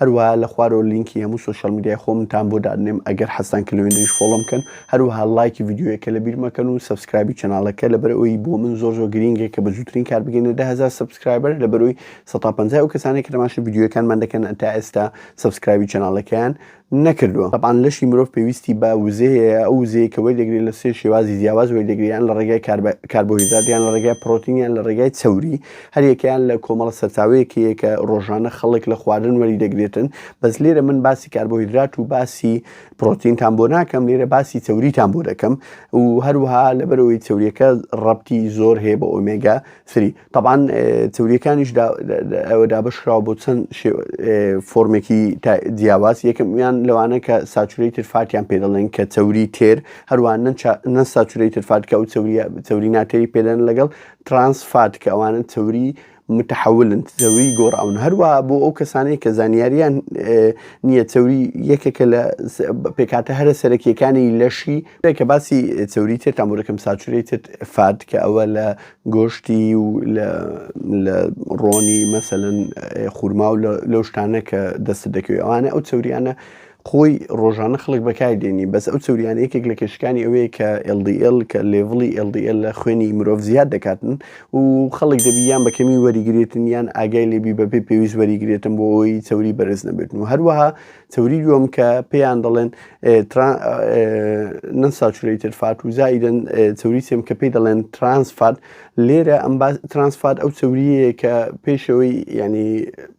هەروەها لە خوارەوە لینکی هەموو سۆشیال میدیای خۆمتان بۆ دادنێم ئەگەر حەزتان کرد لەوێندریش فۆڵۆم کەن هەروەها لایکی ڤیدیۆیەکە لە بیر مەکەن و سەبسکرایبی چەناڵەکە لەبەر ئەوی بۆ من زۆر زۆر گرینگە کە بە زووترین کات بگەینە دە هەزار سەبسکرایبەر لەبەر ئەوی سەد تا پەنجا ئەو کەسانێک کە تەماشای ڤیدیۆیەکانمان دەکەن تا ئێستا سەبسکرایبی چەناڵەکەیان نەکردووە تەبعەن لەشی مرۆڤ پێویستی بە وزەیە ئەو وزەیە کە وەردەگرێت لە سێ شێوازی جیاواز وەردەگرێت یان لە ڕێگای کاربۆهیدرات یان لە ڕێگای پڕۆتین یان لە ڕێگای چەوری هەریەکەیان لە کۆمەڵە سەرچاوەیەکەیە کە ڕۆژانە خەڵک لە خواردن وەری دەگرێتن بەس لێرە من باسی کاربۆهیدرات و باسی پرۆتینتان بۆ ناکەم لێرە باسی چوریتان بۆ دەکەم و هەروها لەبەرەوەی چوریەکە ڕەتی زۆر هەیە بە ئۆمێگا سری تەبان چوریەکانیش ئەوە دابشراوە بۆ چەند فۆرمێکی جیاواز یەکەمیان لەوانە کە ساچوری ترفاتیان پێ دەڵێن کە چوری تێر هەروان نە ساچوری ترفات کە و چوری ناتێری پێدەن لەگەڵ ترانس فات کە ئەوانە چەوری متحولن چەوری گۆڕاون هەروەها بۆ ئەو کەسانەی کە زانیاریان نییە چەوری یەکێکە لە پێکاتە هەرە سەرەکیەکانی لەشی کە باسی چەوری تر تامورەکەم ساچوری تر فات کە ئەوە لە گۆشتی و لە ڕۆنی مەسەن خورما و لەو شتانە کە دەست دەکەوێت ئەوانە ئەو چەوریانە خۆی ڕۆژانە خەڵک بەکاری دێنی بەس ئەو چەوریانە یەکێک لە کێشەکانی ئەوەیە کە LDL کە لێڤڵی LDL لە خوێنی مرۆڤ زیاد دەکاتن و خەڵک دەبی یان بە کەمی وەریگرێتن یان ئاگای لێبی بەپێ پێویست وەریگرێتن بۆ ئەوی چەوری بەرز نەبێتن و هەروەها چەوری دووەم کە پێیان دەڵێن نەن ساچورەیتر فات و زایدن چەوری سێم کە پێی دەڵێن ترانسفات لێرە ئەم ترانسفات ئەو چەوریەیە کە پێشەوەی ینی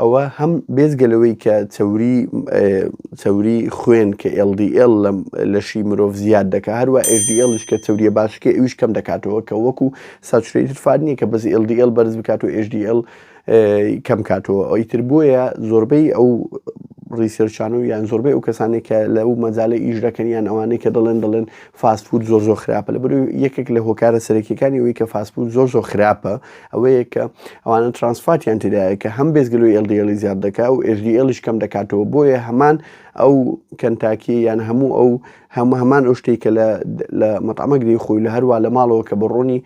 ئەوە هەم بێجگە لەوەی کە چەوری چەوری خوێن کە LDL لە لەشی مرۆڤ زیاد دەکات هەروە HDL ش کە چەوریە باشەکەی ئەویش کەم دەکاتەوە کە وەکو ساتورەیتد فات نییە کە بەس LDL بەرز بکات و HDL کەم کاتەوە ئەوی تر بۆیە زۆربەی ئەو ڕیسێرچانە و یان زۆربەی ئەو کەسانێک کە لەو مەجالە ئیش دەکەن یان ئەوانەی کە دەڵێن دەڵێن فاست فود زۆر زۆر خراپە لە بەرو یەکێک لە هۆکارە سەرەکیەکانی ئەوەی کە فاست فود زۆر زۆر خراپە ئەوەیە کە ئەوانە ترانسفاتیان تدایە کە هەم بێزگەلو ئێلدیێلی زیاد دەکا و ئێژدیێلیش کەم دەکاتەوە بۆیە هەمان ئەو کەنتاکی یان هەموو ئەو هەموو هەمان ئەو شتێک کە لە مەتەمەگری خۆی لە هەروە لە ماڵەوە کە بە ڕۆنی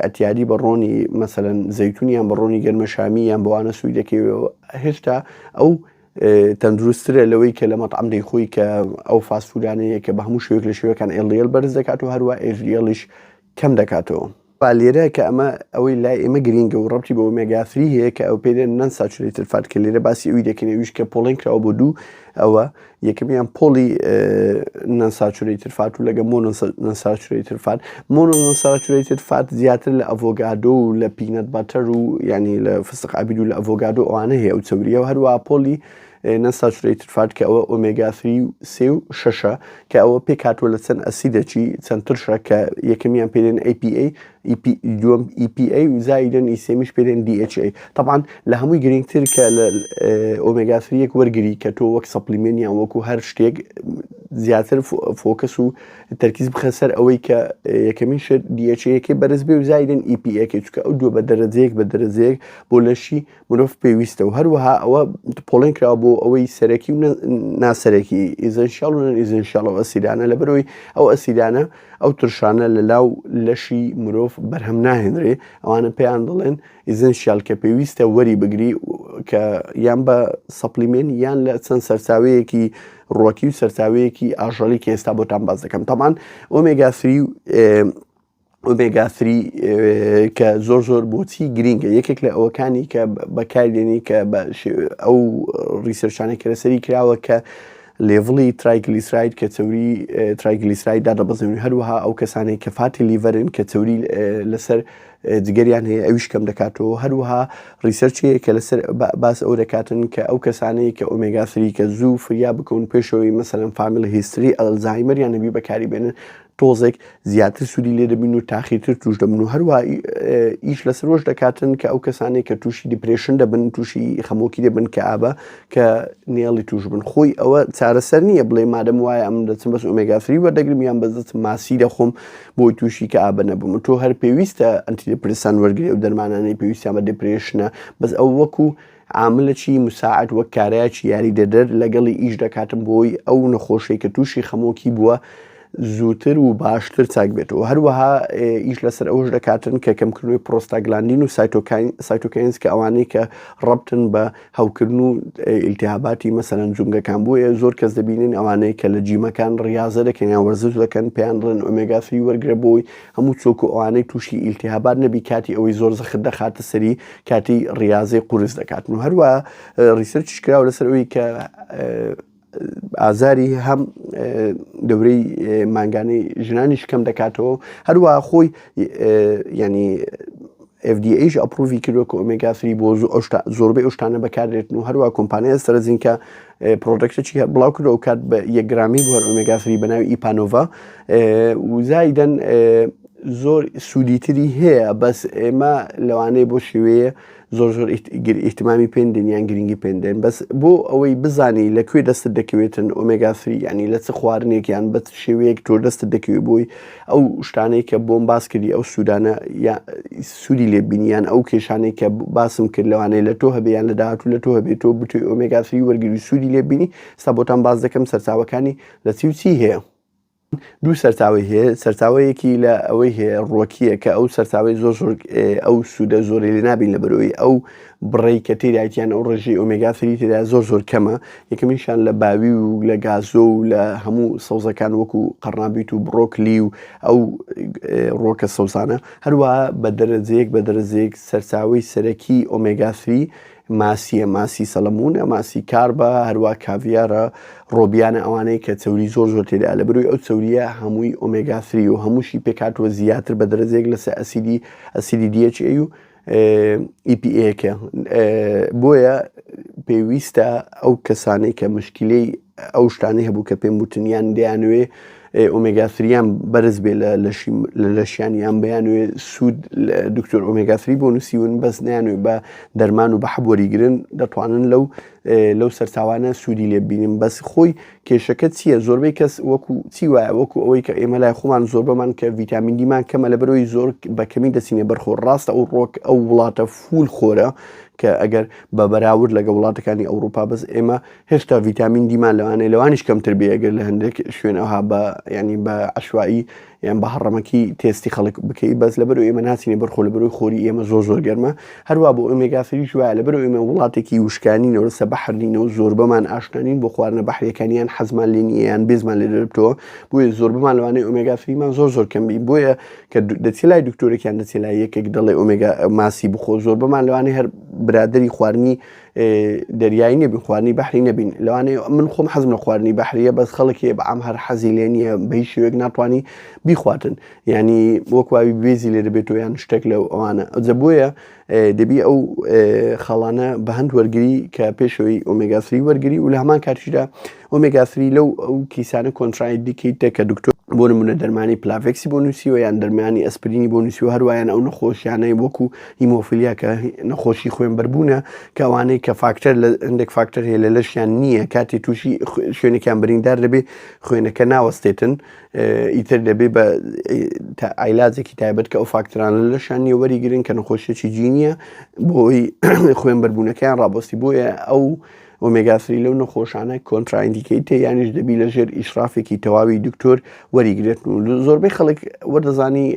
ئەتیادی بە ڕۆنی مەسەن زەیتونیان بە ڕۆنی گەرمەشامی یان بەوانە سوودەکەوێەوە هێشتا ئەو تەندروستترە لەوەی کە لە مەتعەم دەیخۆی کە ئەو فاست فودانەیە کە بە هەموو شوێک لە شوێکان ئێڵیێل بەرز دەکات و هەروە ئێژریێڵیش کەم دەکاتەوە. لێرە کە ئەمە ئەوەی لای ئێمە گرینگە و ڕەبتی بە ئۆمێگا ثری هەیە کە ئەو پێێ نەن ساچولەیتر فات کە لێرە باسی ئەوی دەکەین ئەویش کە پۆڵێن کراوە بۆ دوو ئەوە یەکەمیان پۆڵی نەن ساچولەیتر فات و لەگە مۆ نەن ساچولەیتر فات مۆنۆئونساتورەیتد فات زیاتر لە ئەڤۆگادۆ و لە پینەت بەتەر و یانی لە فستق عەبید و لە ئەڤۆگادۆ ئەوانە هەیە ئەو چەورییە و هەروە پۆلی نەساتورەیتد فات کە ئەوە ئۆمێگا 3 و سێ و شەشە کە ئەوە پێک هاتووە لە چەند ئەسیدەکی چەند ترشە کە یەکەمیان پێێن APA دووەم EPA و زایدن ئی سێمیش پێێن DHA طبعاان لە هەمووی گرنگتر کە لە ئۆمێگاسریەک وەرگری کە تۆ وەک سەپلیمێنیان وەکو هەر شتێک زیاتر فۆکەس و تەرکیز بخە سەر ئەوەی کە یەکەمین شر دیەچەیەکی بەرز بێ و زایدن ئیپیەکە چکە ئەو دوو بە دەرەجەیەک بە دەرەجەیەک بۆ لەشی مرۆڤ پێویستە و هەروەها ئەوە پۆڵێن کرا بۆ ئەوەی سەرەکی و ناسەرەکی ئیزەنشال و ئیزەنشالەوە ئەسیرانە لە بەرەوەی ئەو ئەسیرانە ئەو ترشانە لە لاو لەشی مرۆڤ بەرهەم ناهێنرێ ئەوانە پێیان دەڵێن ئیزەنشال کە پێویستە وەری بگری کە یان بە سەپلیمێن یان لە چەند سەرچاوەیەکی ڕووەکی و سەرچاوەیەکی ئاژەڵی کە ئێستا بۆتان باس دەکەم تەمان ئۆمێگا سری و ئۆمێگا سری کە زۆر زۆر بۆچی گرینگە یەکێک لە ئەوەکانی کە بەکاردێنی کە ئەو ڕیسەرچانە کرەسەری کراوە کە لێڤڵی ترایگلیسراید کە چوری ترایگلیسراید دادەبەزێن هەروەها ئەو کەسانی کە فاتی لیڤەرن کە چوری لەسەر جگەریان هەیە ئەویش کەم دەکاتەوە هەروەها ڕیسەرچەیە کە لەسەر باس ئەو دەکاتن کە ئەو کەسانەیە کە ئۆمێگا سریکە زوو فریا بکەون پێشەوەی مەسەرم فامیل هیستری ئەلزایمەریان نەبی بەکاری بێنن تۆزێک زیاتر سوودی لێ دەبین و تاخیرتر توش دەبن و هەروە ئیش لەسەر وەش دەکاتن کە ئەو کەسانێک کە تووشی دیپرشن دەبن تووشی خەمۆکی دەبن کە ئابە کە نێڵی توش بن خۆی ئەوە چارەسەر نییە بڵێ مادەم وایە ئەم دەچم بەس ئۆمێگافری وەردەگرم یان بەزت ماسی دەخۆم بۆی تووشی کەئابە نەبم و تۆ هەر پێویستە ئەنتیدپرسان وەرگری و دەرمانانەی پێویستیان بە دپرێشنە بەس ئەو وەکو عاملەکی مساعد وەک کارایکی یاریدەدەر لەگەڵی ئیش دەکاتم بۆی ئەو نەخۆشەی کە تووشی خەمۆکی بووە زووتر و باشتر چاک بێت و هەروەها ئیش لەسەر ئەوش دەکاتن کە کەمکردنەوەی پرۆستاگلاندین و سایتۆکاین سایتۆکەینس کە ئەوانەی کە ڕبتن بە هەوکردن و ئیلتیهاباتی مەسەلەن جومگەکان بۆیە زۆر کەس دەبینن ئەوانەیە کە لە جیمەکان ڕاضە دەکەن یان وەرزش دەکەن پێیان بڵێن ئۆمێگا فری وەرگرە بۆی هەموو چۆک و ئەوانەی تووشی ئیلتیهابات نەبی کاتی ئەوەی زۆر زەخت دەخاتە سەری کاتی ڕاضەی قورس دەکاتن و هەروە ڕیسەرچش کراوە لەسەر ئەوی کە ئازاری هەم دەورەی مانگانەی ژنانیش کەم دەکاتەوە هەروە خۆی ینی FDAش ئەپروڤی کردوە کە ئۆمێگا سری بۆ زۆربەی ئەوشتانە بەکاردێتن و هەروە کۆمپانیای سەرزینکە پرۆدەکتەی هەر بڵاو کردەوە کات بە یەکگرامی بۆ هەر ئۆمێگا سری بەناوی ئیپانۆڤا وزایدەن زۆر سوودیتری هەیە بەس ئێمە لەوانەیە بۆ شێوەیە زۆر زۆر ئیتمامی پێندێن یان گرنگی پێندێن بەس بۆ ئەوەی بزانی لە کوێ دەستت دەکەوێتن ئۆمێگاسری ینی لە چ خواردنێک یان بە شێوەیەک تۆ دەستت دەکەوێت بۆی ئەو شتانەی کە بۆم باس کردی ئەو سوودانە سوودی لێبینیان ئەو کێشانەی کە باسم کرد لەوانەیە لە تۆ هەبیان لە داهاتوو لە تۆ هەبێت تۆ بتوی ئۆمێگاسری وەرگری سوودی لێبینی ستا بۆتان باز دەکەم سەرچاوەکانی لە چی و چی هەیە دوو سەرچاوەی هەیە، سەرچاوەیەکی لە ئەوەی هەیە ڕۆکییە کە ئەو سەرچاوەی زۆر زۆر ئەو سوودە زۆری لێ نابین لە بەرەوەی ئەو بڕی کە تێدایتیان ئەو ڕژی ئۆمێگا سری تێدا زۆر زۆر کەمە یەکەمیشان لە باوی و لە گازۆ و لە هەموو سەوزەکان وەکو قەڕنابیت و بڕۆکلی و ئەو ڕۆکە سەوزانە هەروە بە دەرەجەیەک بە دەرەجەیەک سەرچاوی سەرەکی ئۆمێگا سری ماسیە، ماسی سەڵەمونە، ماسی کاربە، هەروا کاڤیارە، ڕۆبیانە ئەوانەی کە چەوری زۆر زۆر تێدایە لە بەروی ئەو چەوریە هەمووی ئۆمێگا ثری و هەمووشی پێکهاتووە زیاتر بە دەرەجەیەک لەسە ئەسیدی ئەسیدی دی ئێچ ئەی و ئی پی ئێکە بۆیە پێویستە ئەو کەسانەی کە مشکلەی ئەو شتانەی هەبوو کە پێم وتنیان دەیانوێ ئۆمێگا سریان بەرز بێ لە لەشیان یان بەیانوێ سوود دکتۆر ئۆمێگاسری بۆ نووسیون بەس نیانوێ بە دەرمان و بە حەبوەریگرن دەتوانن لەو لەو سەرچاوانە سوودی لێ بینیم بەس خۆی کێشەکە چییە زۆربەی کەس وەکو چی وایە وەکو ئەوەی کە ئێمە لای خۆمان زۆر بەمان کە ڤیتامین دیمان کەمە لە برۆی زۆر بە کەمی دەچینە بەرخۆ ڕاستە ئەو ڕۆک ئەو وڵاتە فول خۆرە کە ئەگەر بە بەراورد لەگە وڵاتەکانی ئەوروپا بەس ئێمە هێشتا ڤیتامین دیمان لەوانەیە لەوانیش کەمتر بێ ئەگەر لە هەندێک شوێن ئەوها بە ینی بە عشوایی یان بە هەڕەمەکی تێستی خەڵک بکەی بەس لە بەرو ئێمە ناسینی بەرخۆ لە بەروی خۆری ئێمە زۆر زۆر گەرمە هەروە بۆ ئۆمێگاسری شوە لە بەرو ئێمە وڵاتێکی وشکانی نەوەسە بەحرنینە و زۆر بەمان ئاشنانین بۆ خواردنە بەحریەکانیان حەزمان لێنیان بێزمان لێ دەربتەوە بۆیە زۆر بمان لەوانەیە ئۆمێگاسریمان زۆر زۆر کەمبی بۆیە کە دەچێ لای دکتۆرێکیان دەچێ لای یەکێک دەڵێ ئۆمێگا ماسی بخۆ زۆر بەمان لەوانەیە هەر برادری خواردنی دەریایی نەبین خواردنی بەحری نەبین لەوانەیە من خۆم حەزم لە خواردنی بەحریە بەس خەڵکی بەعام هەر حەزی لێ نییە بە هیچ شێوێک ناتوانانی بیخواتن ینی وەکواوی بێزی لێ دەبێت و یان شتێک لە ئەوانە ئەجە بۆیە دەبی ئەو خاڵانە بە هەند وەرگری کە پێشەوەی ئۆمێگاسری وەرگری و لە هەمان کاتیشدا ئۆمێگا سری لەو ئەو کیسانە کۆنتراید دیکیتە کە دکتۆر بۆ نمونە دەرمانی پلاڤێکسی بۆ نووسیوە یان دەرمانی ئەسپرینی بۆ نووسی و هەروایان ئەو نەخۆشیانەی وەکو هیمۆفیلیا کە نەخۆشی خوێن بەربوونە کەوانەی کە فاکتەر لە هەندێک فاکتەر هەیە لە لەشیان نییە کاتی تووشی شوێنێکیان بریندار دەبێ خوێنەکە ناوەستێتن ئیتر دەبێ بە ئایلازێکی تایبەت کە ئەو فاکترانە لەشان نیە وەریگرن کە نەخۆشیێکی جینیە بۆی خوێن بەربوونەکەیان ڕابستی بۆیە ئەو ئۆمێگا سری لەو نەخۆشانە کۆنتراندیکەیتە یانیش دەبی لە ژێر ئیشرافێکی تەواوی دکتۆر وەریگرێت و زۆربەی خەڵک وەدەزانی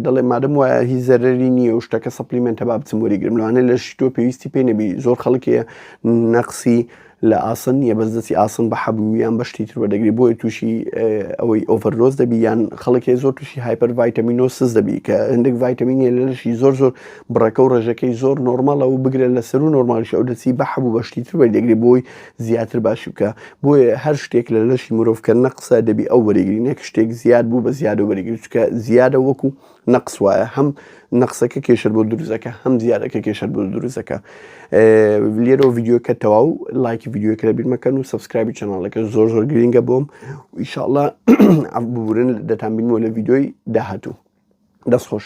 دەڵێ مادەم وایە هی زەرری نییە و شتەکە سەپلیمنتە با بچم وەریگرم لەوانە لە شتۆ پێویستی پێ نەبی زۆر خەڵکێ نەقسی لە ئاسن نیە بەس دەستی ئاسن بە حەبوو یان بەشتی تر بەدەگری بۆی تووشی ئەوەی ئۆڤەرۆز دەبی یان خەڵکێ زۆر تووشی هایپەر ڤایتەمینۆسز دەبی کە هەندێک ڤایتەمینە لەشی زۆر زۆر بڕەکە و ڕێژەکەی زۆر نۆرماڵە و بگرە لە سەرو نۆرمالیش ئەو دەچی بە حەبوو بە شتی تر وەریدەگری بۆی زیاتر باشی بکە بۆیە هەر شتێک لە لەشی مرۆڤ کە نەقسە دەبی ئەو وەریگری نەک شتێک زیاد بوو بە زیادە وەریگری چکە زیادە وەکو نەقس وایە هەم نەقسەکە کێشەر بۆ دروزەکە هەم زیادەکە کێشەر بۆ دروزەکە لێرە و ڤیددیوکە تەواو لایکی ڤیددیوکە لە بیرمەکەن و سبسکرابی چەناڵەکە زۆر زۆر گرنگە بۆم ئیشاءله ئەف ببورن دەتان بینەوە لە ڤیددیۆی داهاتوو دەستخۆش.